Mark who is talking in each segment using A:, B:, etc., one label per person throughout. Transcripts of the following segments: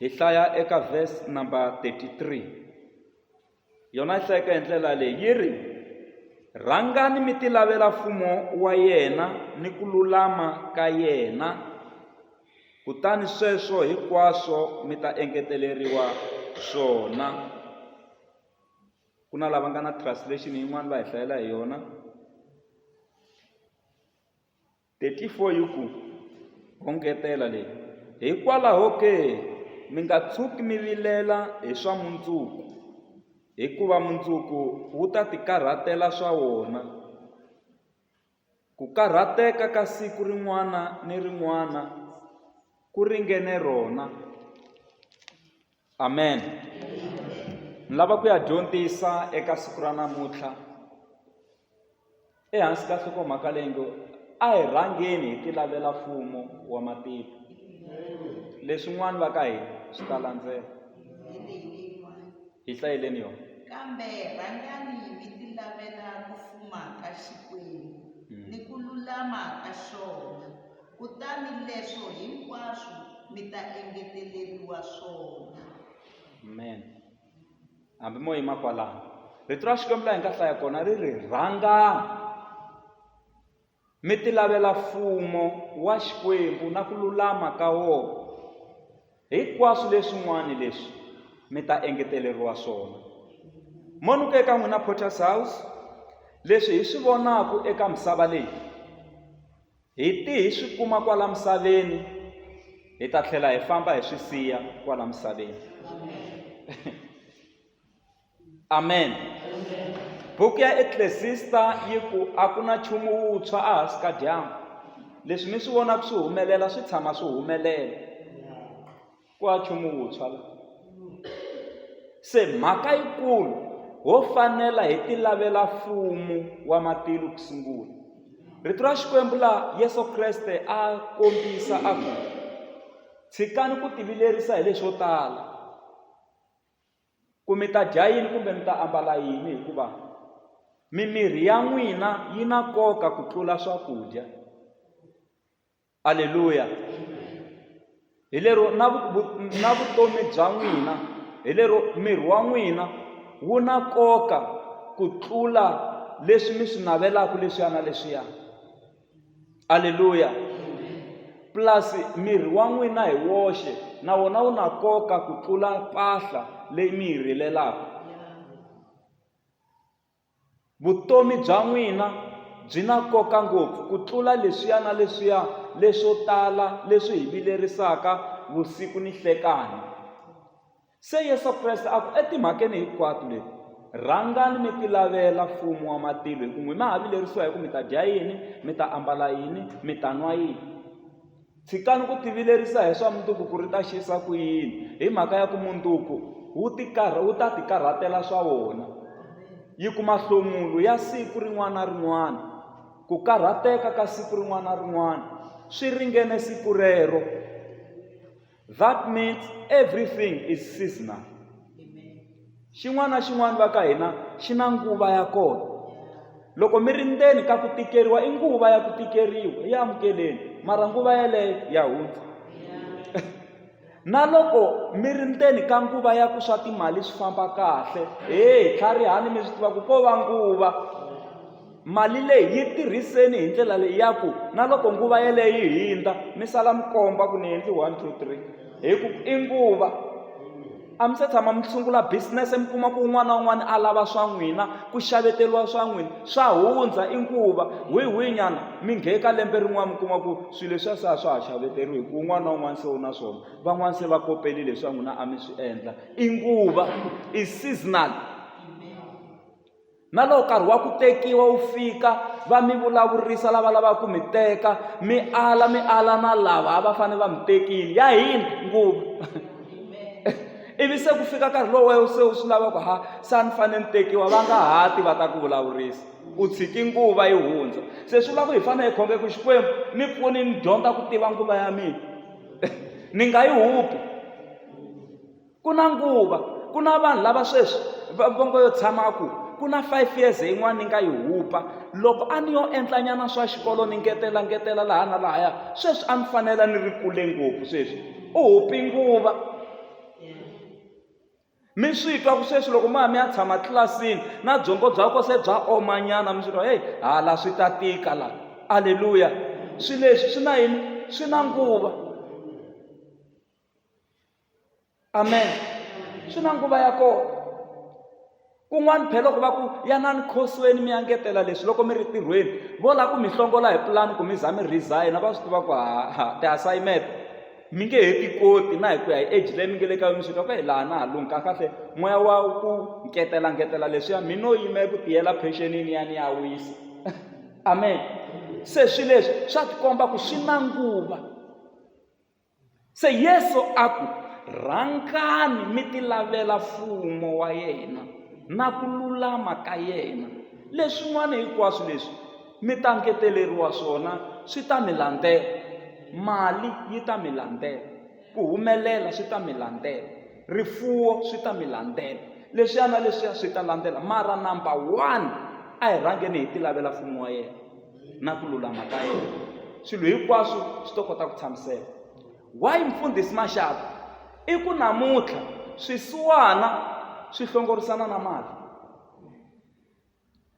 A: Hi hlaya eka verse number 33. Yona yi hlayeka hi ndlela leyi yi ri rhangani mi tilavela mfumo wa yena ni ku lulama ka yena kutani sweswo hinkwaswo mi ta engeteleriwa swona ku na lava nga na translation yin'wana va hi hlayela hi yona 34 yi ku, Ho ngetela leyi, Hikwalaho ke, mi nga tshuki mi vilela hi swa mundzuku, hikuva mundzuku wu ta tikarhatela swa wona. Ku karhateka ka siku rin'wana ni rin'wana ku ringene rona. amen ni lava ku ya dyondzisa eka siku ra namuntlha ehansi ka nhlokomhaka leyi ngo a hi rhangeni hi tilavela mfumo wa matiko leswin'wana va ka hina swi ta landzela hi hlayeleni yona kambe
B: rhangani mi tilavela ku fuma ka xikwembu hmm. ni ku lulama ka xona Kutani leswo hinkwaswo mi ta engeteleriwa
A: swona. Amen. Hambi mo yima kwalano. Rito ra Xikwembu la hi nga hlaya kona ri ri rhangani mi ti lavela mfumo wa Xikwembu na ku lulama ka wona. Hinkwaswo leswin'wana leswi mi ta engeteleriwa swona. Mo ni ku eka n'wina Potter's House leswi hi swi vonaka eka misava leyi Hi ti hi swi kuma kwala misaveni hi ta tlhela hi famba hi swi siya kwala misaveni amen buku ya eklesista yi ku a ku na nchumu wuntshwa a hansi ka dyambu leswi mi swi vonaka swi humelela swi tshama swi humelela ku a nchumu wuntshwa la se mhaka yikulu ho fanela hi ti lavela mfumo wa matilo ku sungula rito ra xikwembu laha yesu kreste a kombisa a ku tshikani ku tivilerisa hi leswo tala ku mi ta dya yini kumbe mi ta ambala yini hikuva mimiri ya n'wina yi na nkoka ku tlula swakudya Aleluya! Hi lero na na vutomi bya n'wina hi lero miri wa n'wina wu na nkoka ku tlula leswi mi swi navelaka leswiya na leswiya aleluya plus miri wa n'wina hi woxe na wona wu na nkoka ku tlula mpahla leyi mi yi rilelaka Vutomi bya n'wina byi na nkoka ngopfu ku tlula leswiya na leswiya leswo tala leswi hi vilerisaka vusiku ni hlekani. Se Yesu Kreste a ku, Etimhakeni hinkwato leti, rhangani mi tilavela mfumo wa matilo, hi ku n'wina ha vilerisiwa hi ku mi ta dya yini, mi ta ambala yini, mi ta nwa yini. Tshikani ku tivilerisa hi swa munduku ku ri ta xisa ku yini hi mhaka ya ku munduku wu tikarha wu ta tikarhatela swa wona yi kuma hlomulo ya siku rin'wana na rin'wana ku karhateka ka siku rin'wana na rin'wana swi ringene siku rero that means everything is seasonal Xin'wana na xin'wana va ka hina xi na nguva ya kona. Loko mi ri ndzeni ka ku tikeriwa i nguva ya ku tikeriwa, yi amukeleni, mara nguva yeleyo ya hundza. Na loko mi ri ndzeni ka nguva ya ku swa timali swi famba kahle, heyi tlharihani mi swi tiva ku ko va nguva. Mali leyi yi tirhiseni hi ndlela leyi ya ku na loko nguva yeleyo yi hindza mi sala mi komba ku ni endli one two three hi ku i nguva a mi se tshama mi sungula business mi kuma ku un'wana na un'wana a lava swa n'wina ku xaveteriwa swa n'wina swa hundza i nguva wihi wihi nyana mi nghe ka lembe rin'wana mi kuma ku swilo leswiya se a swa ha xaveteriwi hi ku un'wana na un'wana se u na swona van'wana se va koperile swa n'wina a mi swi endla i nguva i seasonal Na loko nkarhi wa ku tekiwa wu fika, va mi vulavurisa lava lavaka ku mi teka, mi ala mi ala na lava a va fanele va mi tekile. Ya hina nguva. Ivi se ku fika nkarhi lowu wena se u swi lava ku ha se a ni fanele ni tekiwa, va nga ha ti va ta ku vulavurisa. U tshiki nguva yi hundza. Se swi vula ku hi fanele hi khonge ku Xikwembu ni pfuni ni dyondza ku tiva nguva ya mina. ni nga yi hupi. ku na nguva ku na vanhu lava sweswi va vongo yo tshama ku ku na five years yin'wana ni nga yi hupa loko a ni yo endlanyana swa xikolo ni ngetela ngetela laha na lahaya sweswi a ni fanela ni ri kule ngopfu sweswi u hupi nguva mi swi twa ku sweswi loko ma mi ya tshama tlilasini na byongo bya ko se bya omanyana mi swi twa heyi hala swi ta tika la aleluya swi leswi swi na yini swi na nguva amen swi na nguva ya kona kun'wana phela ku va ku yanani khosweni mi engetela leswi loko mi ri tirhweni vo lava ku mi hlongola hi pulani ku mi za mi resign va swi tiva ku haha ti-assignment mi nge he ti koti na hi ku ya hi age leyi mi nge le ka yona swi ka ku hi laha na ha lungha kahle moya wa ku ngetela ngetela leswiya mi no yima eku tiyela pensionini ya ni ya wisa amen se swi leswi swa tikomba ku swi na nguva se yesu a ku rhangani mi ti lavela mfumo wa yena na ku lulama ka yena leswin'wana hinkwaswo leswi mi ta ngeteleriwa swona swi ta mi landzela mali yi ta mi landzela ku humelela swi ta mi landzela rifuwo swi ta mi landzela leswiya na leswiya swi ta landzela mara number one a hi rhangeni hi ti lavela mfumo wa yena na ku lulama ka yena swilo hinkwaswo swi to kota ku tshamiseka why mfundhisi maxaka i ku namuntlha swisiwana swi hlongorisana na mali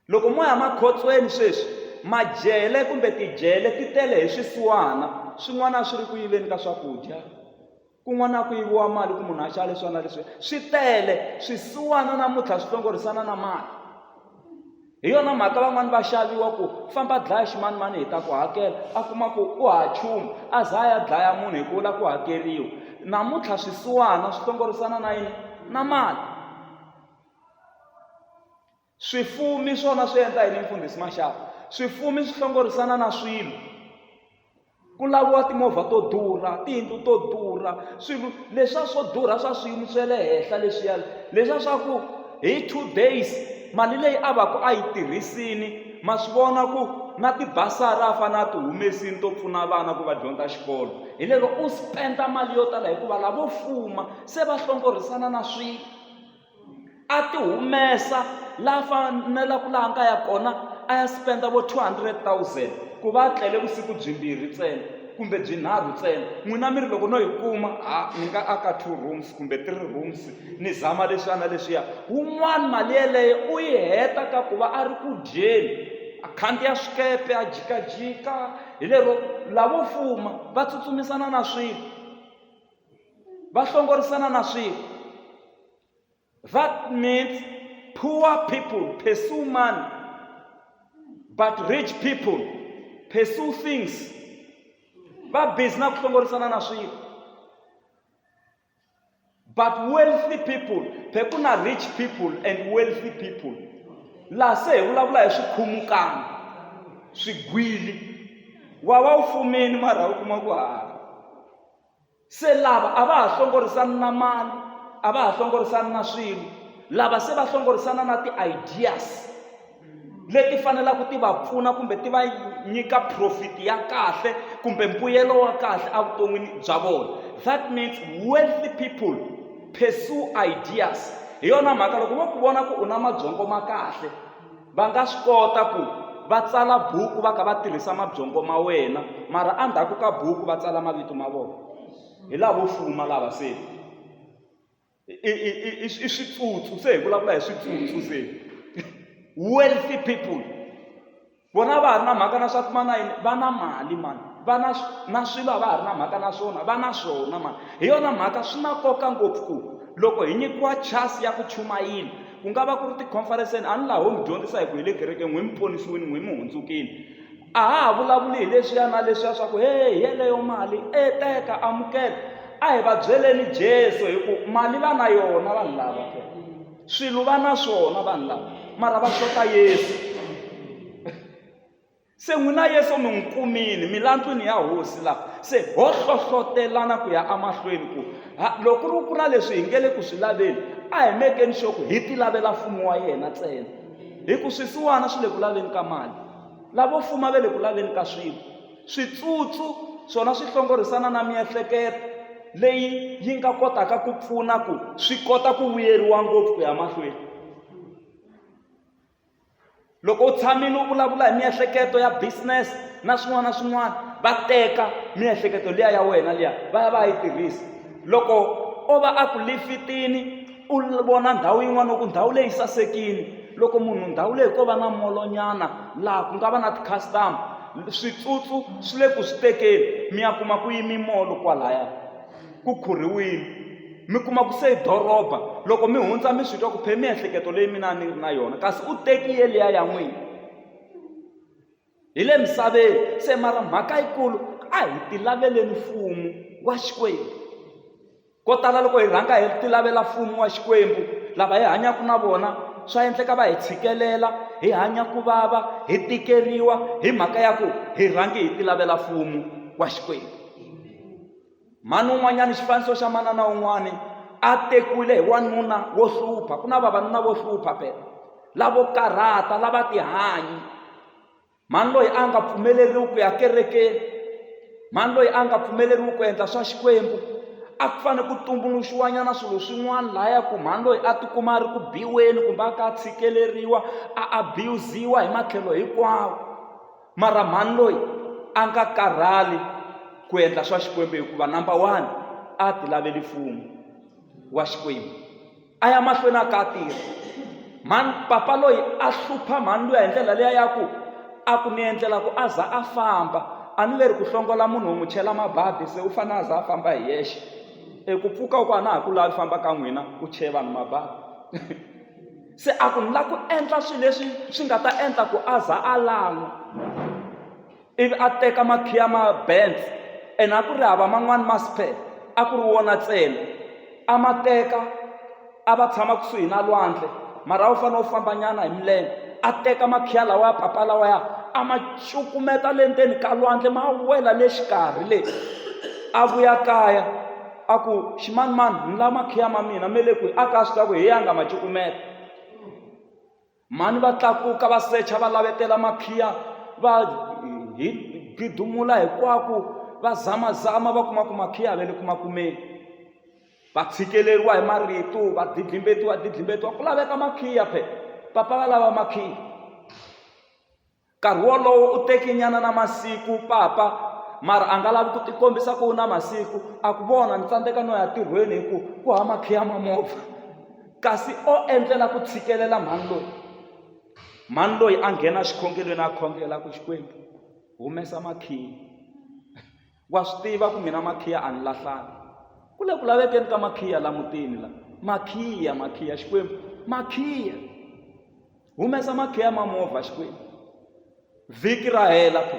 A: loko mo ya makhotsweni sweswi majele kumbe tijele ti tele hi swisiwana swin'wana swi ri ku yiveni ka swakudya kun'wana ku yiviwa mali ku munhu a xava leswi na leswi swi tele swisiwana namuntlha swi tlongorisana na mali hi yona mhaka van'wani va xaviwa ku famba dlaya ximanimani hi ta ku hakela a kuma ku u ha chumu a za a ya dlaya munhu hi ku vula ku hakeriwa namuntlha swisiwana swi tlongorisana na yini na mali Swifumi swona swi endla yini mfundhisi Maxaka? Swifumi swi hlongorisana na swilo. Ku laviwa timovha to durha, tiyindlu to durha, swilo leswa swo durha swa swiyimo swa le henhla leswiya. Leswa swa ku hi two days mali leyi a va ku a yi tirhisini ma swi vona ku na tibasari a fanele a ti humesini to pfuna vana ku va dyondza xikolo. Hi lero u spend-a mali yo tala hikuva lavo fuma se va hlongorisana na swilo. a ti humesa la fanela ku laha nga ya kona a ya spenda vo 200 000 ku va a tlele vusiku byimbirhi ntsena kumbe byinharhu ntsena n'wina mi ri loko no yi kuma ha ni nga aka two rooms kumbe three rooms ni zama leswiya na leswiya wun'wana mali yeleyo u yi heta ka ku va a ri ku dyeni a khandziya swikepe a jikajika hi lero lavo fuma va tsutsumisana na swilo va hlongorisana na swilo that means poor people pursue money but rich people pursue things va busy na ku hlongorisana na swilo but wealthy people phe ku na rich people and wealthy people laha se hi vulavula hi swikhumukana swigwili wa va wu fumeni mara u kuma ku hava se lava a va ha hlongorisani na mali a va ha hlongorisani na swilo lava se va hlongorisana na ti-ideas leti fanelaka ti va pfuna kumbe ti va nyika profit ya kahle kumbe mbuyelo wa kahle evuton'wini bya vona that means wealthy people pursue ideas hi yona mhaka loko vo ku vona ku u na mabyongo ma kahle va nga swi kota ku va tsala buku va kha va tirhisa mabyongo ma wena mara endzhaku ka buku va tsala mavito ma vona hi lavo fuma lava se i switsutsu se hi vulavula hi switsutsu se wealthy people vona va ha ri na mhaka na swa ku mana yini va na mali mani va na na swilo a va ha ri na mhaka na swona va na swona mani hi yona mhaka swi na nkoka ngopfu ku loko hi nyikiwa chance ya ku chumayela ku nga va ku ri tikhonferenseni a ni laha ho mi dyondzisa hi ku hi le kerekeni n'wi mi ponisiwini n'wi mi hundzukile a ha ha vulavuli hi leswiya na leswiya swa ku he hi yeleyo mali e teka amukela a hi va byeleni jesu hi ku mali va na yona vanhu lava swilo va na swona vanhu lava mara va xota yesu Se n'wina Yesu mi n'wi kumile milandzwini ya hosi la se ho hlohlotelana ku ya amahlweni ku loko ri ku na leswi hi nge le ku swi laveni a hi mekeni xo ku hi tilavela mfumo wa yena ntsena hi ku swisiwana swi le ku laveni ka mali lavo fuma ve le ku laveni ka swilo switsutsu swona swi hlongorisana na miehleketo leyi yi nga kotaka ku pfuna ku swi kota ku vuyeriwa ngopfu ku ya mahlweni loko u tshamile u vulavula hi miehleketo ya business na swin'wana na swin'wana va teka miehleketo liya ya wena liya va ya va yi tirhisa loko o va a ku lifitini u vona ndhawu yin'wana ku ndhawu leyi sasekile loko munhu ndhawu leyi ko va na molonyana laha ku nga va na ti-customer switsutsu swi le ku swi tekeni mi ya kuma ku yimi molo kwalaya. ku khurhiwile mi kuma ku se doroba loko mi hundza mi swi twa ku phe miehleketo leyi mina ni ri na yona kasi u tekiye liya ya n'wina hi le misaveni se mara mhaka yikulu a hi ti laveleni mfumo wa xikwembu ko tala loko hi rhanga hi ti lavela mfumo wa xikwembu lava hi hanyaka na vona swa endleka va hi tshikelela hi hanya ku vava hi tikeriwa hi mhaka ya ku hi rhangi hi ti lavela mfumo wa xikwembu mhani un'wanyana xifaniso xa manana un'wana a tekiwile hi wanuna wo hlupha ku na vavanuna vo hlupha phela lavo karhata lava tihanyi mhani loyi a nga pfumeleriwi ku ya kerekeni mhani loyi a nga pfumeleriwi ku endla swa xikwembu a ku fanele ku tumbuluxiwanyana swilo swin'wana lahaya ku mhani loyi a tikuma a ri ku biweni kumbe a ka tshikeleriwa a abuziwa hi matlhelo hinkwawo Mara mhani loyi a nga karhali ku endla swa xikwembu hikuva number one a ti laveli mfumo wa xikwembu a ya mahlweni a ka tirha mhani papa loyi a hlupha mhani luya hi ndlela leya ya ku a ku ni endlela ku a za a famba a ni leri ku hlongola munhu wo n'wi chela mabadi se u fanele a za a famba hi yexe eku pfuka ku a na ha ku lavi famba ka n'wina u cheva ni mabadi se a ku ni lava ku endla swilo leswi swi nga ta endla ku a za a lan'wa ivi a teka makhiya ma bands ene a ku ri hava man'wani ma spare a ku ri wona ntsena a ma teka a va tshama kusuhi na lwandle mara a wu fanele u fambanyana hi milenge a teka makhiya lawa ya papa lawa ya a ma cukumeta le ndzeni ka lwandle ma wela le xikarhi le a vuya kaya a ku ximanimani ni la makhiya ma mina me le kwihi a ka swi ta ku hi yanga ma cukumeta mhani va tlakuka va secha va lavetela makhiya va hi gidumula hinkwaku va zamazama va kuma ku makhiya ve le ku makumeni va tshikeleriwa hi marito va didlimbetiwa didlimbetiwa ku laveka makhiya phe papa va lava makhiya Nkarhi wolowo u teki nyana na masiku papa mara a nga lavi ku tikombisa ku u na masiku a ku vona ni tsandzeka no ya tirhweni hi ku ku ha makhiya ma movha kasi o endlela ku tshikelela mhani loyi mhani loyi a nghena xikhongelweni a khongela ku xikwembu humesa makhiya Wa swi tiva ku mina makhiya a ni lahlanga ku le ku lavekeni ka makhiya la mutini la makhiya makhiya xikwembu makhiya humesa makhiya ma movha xikwembu vhiki ra hela phe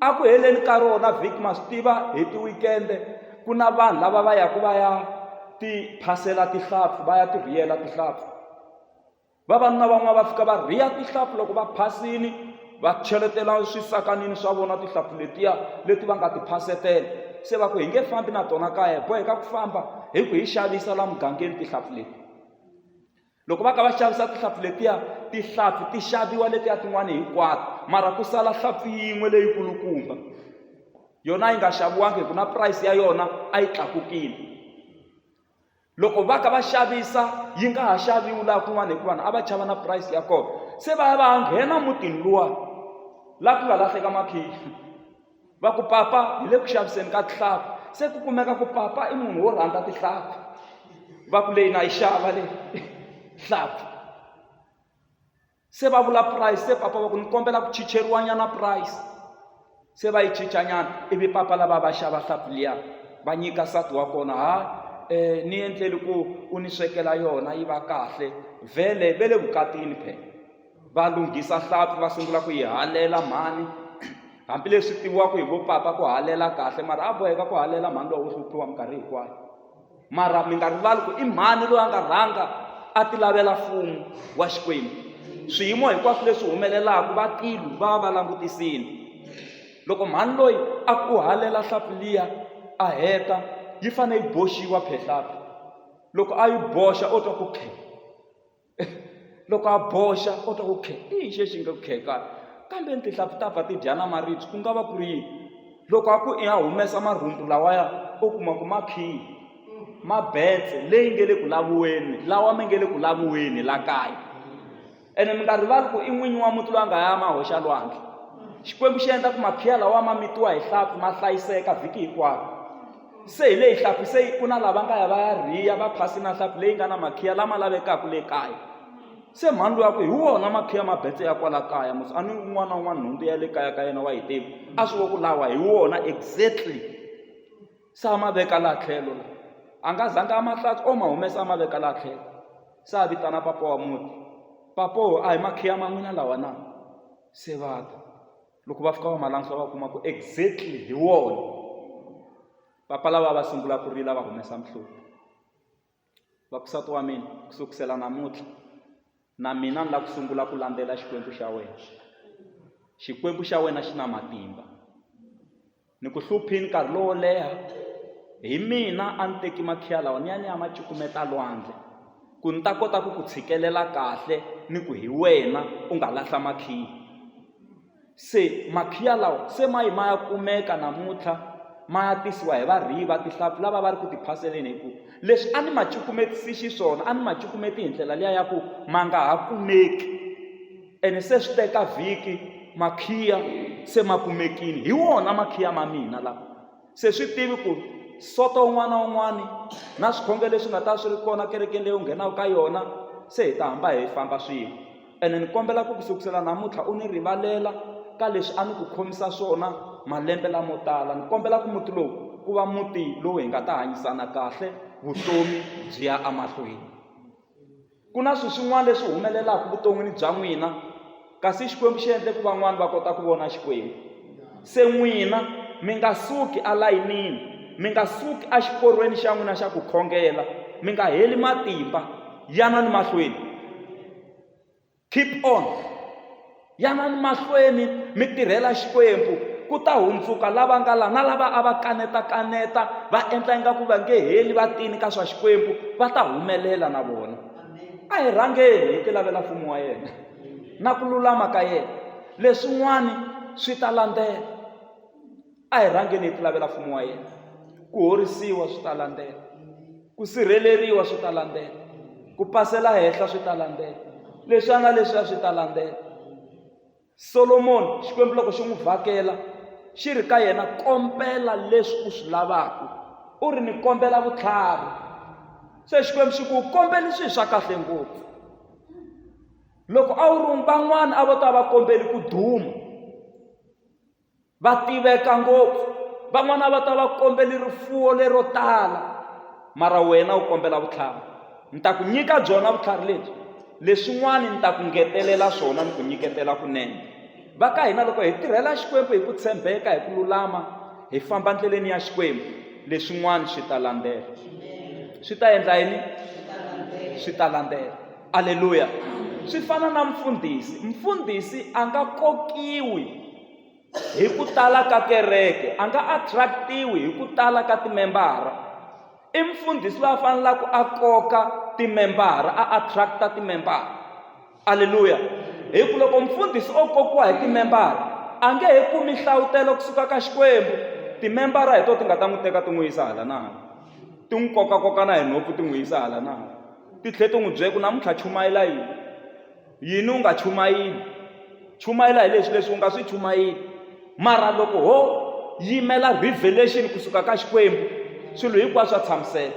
A: a ku heleni ka rona vhiki ma swi tiva hi tiwikende ku na vanhu lava va yaku va ya ti phasela tihlampfu va ya ti rhiyela tihlampfu vavanuna van'wana va fika va riha tihlampfi loko va phasile va cheletela swisakanini swa vona tihlampfi letiya leti va nga ti phasetela se va ku hi nge fambi na tona kaya hi boheka ku famba hi ku hi xavisa la mugangeni tihlampfi leti loko va ka va xavisa tihlampfi letiya tihlampfi ti xaviwa letiya tin'wana hinkwato mara ku sala hlampfi yin'we leyi kulukumba yona yi nga xaviwangi hi ku na price ya yona a yi tlakukile loko va ka va xavisa yi nga ha xaviwi laha kun'wana hikuva a va chava na price ya kona se va ya va ya nghena mutini luwa laha ku nga lahleka makhiya va ku papa hi le ku xaviseni ka tihlampfi se ku kumeka ku papa i munhu wo rhandza tihlampfi va ku leyi na yi xava leyi hlampfi se va vula price se papa va ku ni kombela ku chicheriwanyana price se va yi chichanyana ivi papa lava va xava hlapi liya va nyika sati wa kona ha um ni endleli ku u ni swekela yona yi va kahle vhele ve le vukatini phela va lunghisa hlapi va sungula ku yi halela mhani hambileswi tiviwaka hi vo papa ku halela kahle mara a boheka ku halela mhani lowa wo hluphiwa minkarhi hinkwayo mara mi nga rivali ku i mhani loyi a nga rhanga a ti lavela mfumo wa xikwembu swiyimo hinkwaswo leswi humelelaka va tilu va va va langutisile loko mhani loyi a ku halela hlapi liya a heta yi fanele yi boxiwa phehlapi loko a yi boxa o twa ku khe loko a boxa u twa ku khe i yini xi xi nga ku kheka kambe ni tihlampfi ta pfa ti dya na maribye ku nga va ku ri yini loko a ku i ya humesa marhumbu lawaya u kuma ku ma khiyi ma betse leyi nge le ku laviweni lawa mi nge le ku laviweni la kaya ene mi nga rivali ku i n'winyi wa muti loyi a nga ya ma hoxa lwandle xikwembu xi endla ku makhiya lawa ma mitiwa hi hlampfi ma hlayiseka vhiki hinkwaro se hi leyi hlampfi se yi ku na lava nga ya va ya rhiya va phasi na hlampfi leyi nga na makhiya lama lavekaka le kaya se mhani loyi a ku hi wona makhiya mabetse ya kwala kaya musi a ni un'wana na un'wana nhundzu ya le kaya ka yena wa yi tivi a swi vo ku lawa hi wona exactly se a ma veka laha tlhelo la a nga zanga a mahlatsi o ma humesa a ma veka laha tlhelo se a vitana papa wa muti papo a hi makhiya ma n'wina lawa na se vata loko va fika va ma langusa va kuma ku exactly hi wona papa lava va sungula ku rila va humesa mihloti va kusati wa mina ku sukusela namuntlha na mina ni lava ku sungula ku landzela xikwembu xa wena xikwembu xa wena xi na matimba Ni ku hluphile nkarhi lowo leha, hi mina a ni teki makhiya lawa ni ya ni ya ma cukumeta lwandle ku ni ta kota ku ku tshikelela kahle ni ku hi wena u nga lahla makhiya. Se makhiya lawa se ma yi ma ya kumeka namuntlha ma ya tisiwa hi varhiyi va tihlampfi lava va ri ku ti phaseleni hikuva leswi a ni ma cukumetisi xiswona a ni ma cukumeta hi ndlela liya ya ku ma nga ha kumeki. ene se swi teka vhiki makhiya se ma kumekile hi wona makhiya ma mina lawa se swi tivi ku soto un'wana un'wana na swikhongelo leswi nga ta swi ri kona kerekeni leyi u nghenaka ka yona se hi ta hamba hi famba swin'we ene ni kombela ku ku sukusela namuntlha u ni rivalela ka leswi a ni ku khomisa swona malembe lamo tala ni kombela ku muti lowu ku va muti lowu hi nga ta hanyisana kahle vutomi byi ya emahlweni ku na swilo swin'wana leswi humelelaka vuton'wini bya n'wina kasi xikwembu xi endle ku van'wana va kota ku vona xikwembu se n'wina mi nga suki alayinini mi nga suki exiporweni xa n'wina xa ku khongela mi nga heli matimba yanani mahlweni keep on Yanani mahlweni mi tirhela Xikwembu, ku ta hundzuka lava nga la na lava a va kaneta-kaneta va endla ingaku va nge heli va tini ka swa Xikwembu va ta humelela na vona. A hi rhangeni hi tilavela mfumo wa yena na ku lulama ka yena, leswin'wana swi ta landzela. a hi rhangeni hi ti lavela mfumo wa yena ku horisiwa swi ta landzela ku sirheleriwa swi ta landzela ku pasela henhla swi ta landzela leswiya na leswiya swi ta landzela solomoni xikwembu loko xi n'wi vhakela xi ri ka yena kombela leswi u swi lavaka u ri ni kombela vutlhari se xikwembu xi ku kombeli swilo swa kahle ngopfu loko a wu ri van'wana a vo ta va kombeli ku duma va tiveka ngopfu van'wana va ta va kombeli rifuwo lero tala mara wena u kombela vutlhari ni ta ku nyika byona vutlhari lebyi leswin'wana ni ta ku ngetelela swona ni ku nyiketela kunene va ka hina loko hi tirhela xikwembu hi ku tshembeka hi ku lulama hi famba ndleleni ya xikwembu leswin'wana swi ta landzela swi ta endla yini swi ta landzela aleluya swi fana na mfundhisi mfundhisi a nga kokiwi hi ku tala ka kereke a nga attractiwi hi ku tala ka timembara i mfundhisi loyi a fanelaka a koka timembara a attract-a timembara aleluya hi ku loko mfundhisi o kokiwa hi timembara a nge he kumi nhlavutelo kusuka ka xikwembu timembara hi to ti nga ta n'wi teka ti n'wi yisa hala na hala ti n'wi kokakokana hi nhompfu ti n'wi yisa hala na hala titlhe ti n'wi byela ku namuntlha chumayela yini yini u nga chumayini chumayela hi leswi leswi u nga swi chumayini mara loko ho yimela revelation kusuka ka xikwembu swilo hinkwaswo swa tshamiseka